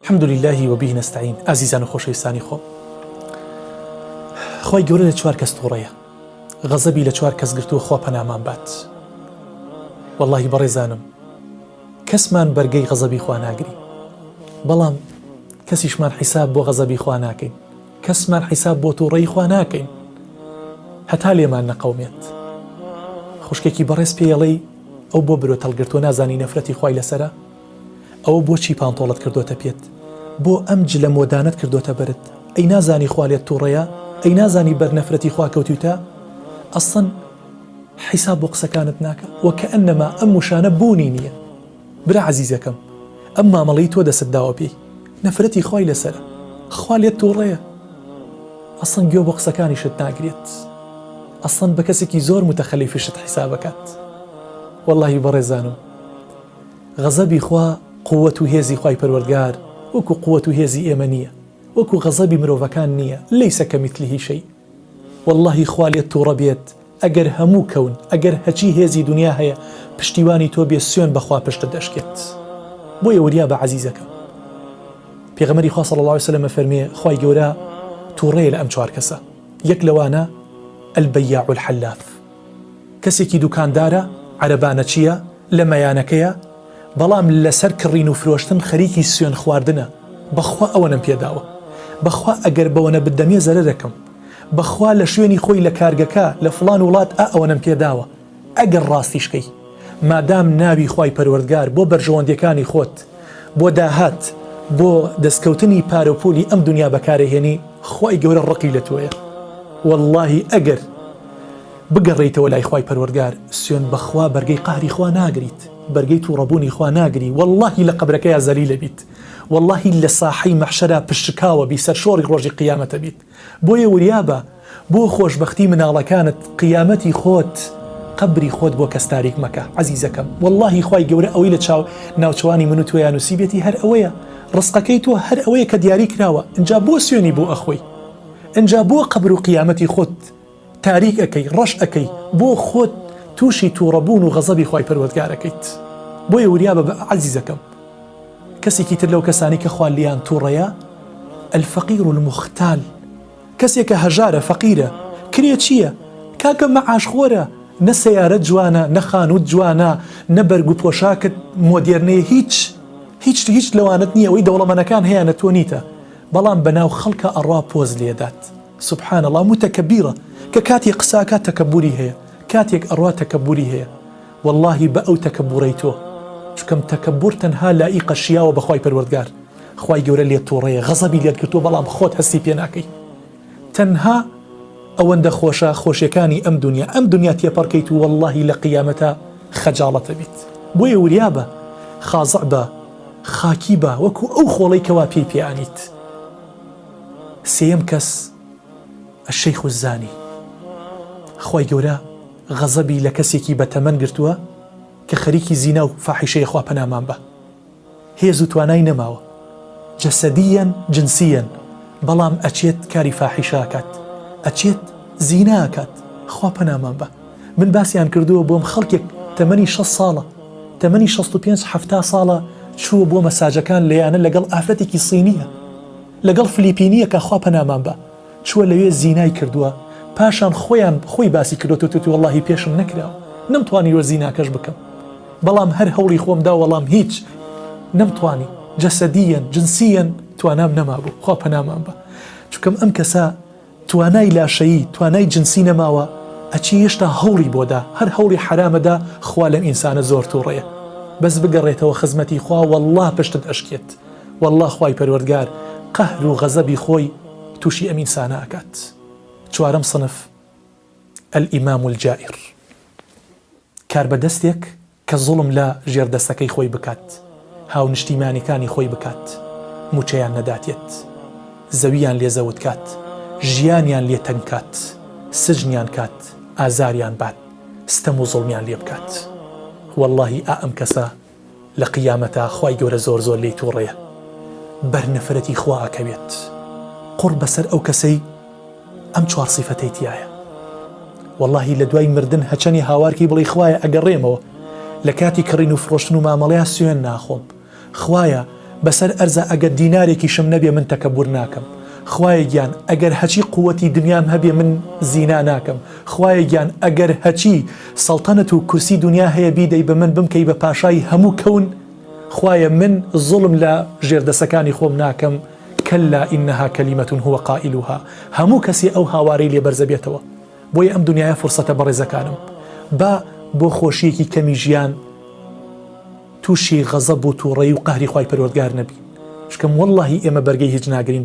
الحمد للە و به نستعین ئازیزان و خۆشەویستانی خۆم خوای گەورە لە چوار کەس تووڕەیە غەزەبی لە چوار کەس گرتووە خوا پەنامان بات واللهی بەڕێزانم کەسمان بەرگەی غەزەبی خوا ناگری بەڵام کەسیشمان حیساب بۆ غەزەبی خوا ناکەین کەسمان حیساب بۆ تووڕەی خوا ناکەین هەتا لێمان نەقەومێت خوشکێکی بەڕێز پێڵەی ئەو بۆ برۆ تەڵگرتووە نازانی نەفرەتی خی لەسرە ئەوە بۆچی پانتۆڵت کردۆتە پێت بۆ ئەم جلە مۆدانەت کردۆتە بەرت ئەی نازانی خوا لێت توڕەیە ئەی نازانی بەر نەفرەتی خوا کەوتویتە ئەسڵەن حیساب بۆ قسەکانت ناکە وە کەئەنەما ئەم وشانە بونی نیە برا عەزیزەکەم ئەم مامەڵەی تۆ دەست داوە پێی نەفرەتی خوای لەسەرە خوا لێت توڕەیە ئەسڵەن گوێ بۆ قسەکانیشت ناگرێت ئەسڵەن بەکەسێکی زۆر متەخەلیفیشت حیساب ئەکات وەڵاهی بەڕێزانم غەزەبی خوا قووەت و هێزی خوای پەروەردگار وەکو قووەت و هێزی ئێمە نییە وەکو غەزەبی مرۆڤەکان نییە لیس کمثله شیء وەڵڵاهی خوا لێت توڕە بێت ئەگەر هەموو کەون ئەگەر هەچی هێزی دونیا هەیە پشتیوانی تۆ بێ سوێن بە خوا پشتت ئەشکێت بۆیە وریابە عەزیزەکەم پێغەمبەری خوا صلی اللە علیە وسلم ئەفەرمێ خوای گەورە توڕەیە لە ئەم چوار کەسە یەک لەوانە البیاع الحلاف کەسێکی دوکاندارە عەرەبانەچییە لە مەیانەکەیە بەڵام لەسەر کڕین و فرۆشتن خەریکی سوێن خواردنە بەخوا ئەوەنەم پێداوە بەخوا ئەگەر بەوەنە بدەمێ زەرەرەکەم بەخوا لە شوێنی خۆی لە کارگەکە لە فڵان وڵات ئا ئەوەنەم پێداوە ئەگەر ڕاستیشکەی مادام ناوی خوای پەروەردگار بۆ بەرژەوەندیەکانی خۆت بۆ داهات بۆ دەستکەوتنی پارەو پولی ئەم دونیا بەکارئەهێنی خوای گەورە ڕقی لە تۆیە وەڵاهی ئەگەر بگەڕێیتەوە لای خوای پەروەردگار سوێن بەخوا بەرگەی قەهری خوا ناگریت بەرگەی توڕەبونی خوا ناگری وەڵاهی لە قەبرەکەیا زەلیلەبیت وەڵاهی لە ساحەی مەحشەرا پشتشکاوەبی سەرشۆڕی ڕۆژی قیامەتەبیت بۆیە وریابە بۆ خۆشبەختی مناڵەکانت قیامەتی خۆت قەبری خۆت بۆ کەس تاریک مەکە عەزیزەکەم وەڵاهی خوای گەورە ئەوەی لە چاو ناوچەوانی من و تۆیا نوسیبێتی هەر ئەوەیە ڕسقەکەی تۆ هەر ئەوەیە کە دیاری کراوە ئنجا بۆ سوێنی بۆ ئەخۆی ئنجا بۆ قەبرو قیامەتی خۆت تاریک ئەکەی ڕەش ئەکەی بۆ خۆت توشی توڕە بوون و غەزەبی خوای پەروەردگار ئەکەیت بۆیە وریابە بئ عەزیزەکەم کەسێکی تر لەو کەسانەی کە خوا لێیان توڕەیە الفقیر المختال کەسێکە هەژارە فەقیرە کرێ چیە کاکە مەعاش خۆرە نە سەیارەت جوانە نە خانوت جوانە نە بەرگ و پۆشاکت مۆدێرنەیە هیچ هیچ هیچ لەوانەت نیە ئەوەی دەوڵەمەنەکان هەیانە تۆ نیتە بەڵام بەناو خەڵکا ئەڕوا پۆز لێدات. سبحان اللە موتەکەبیرە کە کاتێ قساکات تەکەبوری هەیە کاتێک ئەڕوا تەکەبوری هەیە وەڵاهی بە ئەو تەکەبورەی تۆ چکەم تەکەبور تەنها لائیقە شیاوە بە خوای پەروەردگار خوای گەورە لێت توڕەیە غەزەبی لێت گرتوە بەڵام خۆت هەستی پێ ناکەی تەنها ئەوەندە خۆشە خۆشیەکانی ئەم دونیا ئەم دونیا تێپەڕکەیت و وەڵاهی لە قیامەتا خەجاڵەتەبیت بۆیە وریابە خازع بە خاکی بە وەکو ئەو خۆڵەی کەوا پێی پێ ئانیت. سێیەم کەس الشیخ الزانی خوای گەورە غەزەبی لە کەسێکی بە تەمەن گرتووە کە خەریکی زینا و فاحیشەیە خوا پەنامان بە هێز و توانای نەماوە جەسەدیەن جنسیەن بەڵام ئەچێت کاری فاحیشە ئەکات ئەچێت زینا ئەکات خوا پەنامان بە من باسیان کردووە بۆم خەڵکێک تەمەنی شەست ساڵە تەمەنی شەست و پێنج حەفتا ساڵە چووە بۆ مەساجەکان لەیانە لەگەڵ ئافرەتێکی صینیە لەگەڵ فلیپینیەکە خوا پەنامان با چووە لەوێ زینای کردووە پاشان خۆیان خۆی باسی کردوەوە توتی وەڵاهی پێشم نەکراوە نەمتوانیوە زیناکەش بکەم بەڵام هەر هەوڵی خۆم دا وەڵام هیچ نەمتوانی جەسەدیەن جنسیەن توانام نەمابوو خوا پەنامان با چونکەم ئەم کەسە توانای لاشەیی توانای جنسی نەماوە ئەچی هێشتا هەوڵی بۆ دا هەر هەوڵی حەرامە دا خوا لەم ئینسانە زۆر توڕەیە بەس بگەڕێتەوە خزمەتی خوا واللە پشتت ئەشکێت واللە خوای پەروەردگار قەهر و غەزەبی خۆی توشی ئەم ئینسانە ئەکات چوارەم صنف الامام الجائر کاربەدەستێک کە زوڵم لە ژێردەستەکەی خۆی بکات، هاونشتیمانیکانی خۆی بکات، موچەیان نەداتێت، زەوییان لێ زەوت کات، ژیانیان لێ تەنگ کات، سجنیان کات، ئازاریان بات، ستەم و زوڵمیان لێ بکات. وەڵڵاهی ئا ئەم کەسە لە قیامەتا خوای گەورە زۆر زۆر لێی توڕەیە بەر نەفرەتی خوا ئەکەوێت. قوڕ بەسەر ئەو کەسەی. ئەم چوار سیفەتەی تیایە واللهی لە دوای مردن هەچەنی هاوارکەی بڵی خوایە ئەگەڕێمەوە لە کاتی کڕین و فرۆشتن و مامەڵەیە سوێن ناخۆم خوایە بەسەر ئەرزە ئەگەر دینارێکیشم نەبێ من تەکەبور ناکەم خوایە گیان ئەگەر هەچی قووەتی دنیام هەبێ من زینا ناکەم خوایە گیان ئەگەر هەچی سەڵتەنەت و کورسی دنیا هەیە بیدەی بە من بمکەی بە پاشای هەموو کەون خوایە من زوڵم لە ژێردەسەکانی خۆم ناکەم کلا انها کلمە هو قائلها هەموو کەسێ ئەو هاوارەی لێ بەرز ئەبێتەوە بۆیە ئەم دنیایە فرسەتە بەڕێزەکانم با بۆ خۆشیەکی کەمی ژیان توشی غەزەب و توڕەی و قەهری خوای پەروەردگار نەبین شکەم واللەهی ئێمە بەرگەی هیچ ناگرین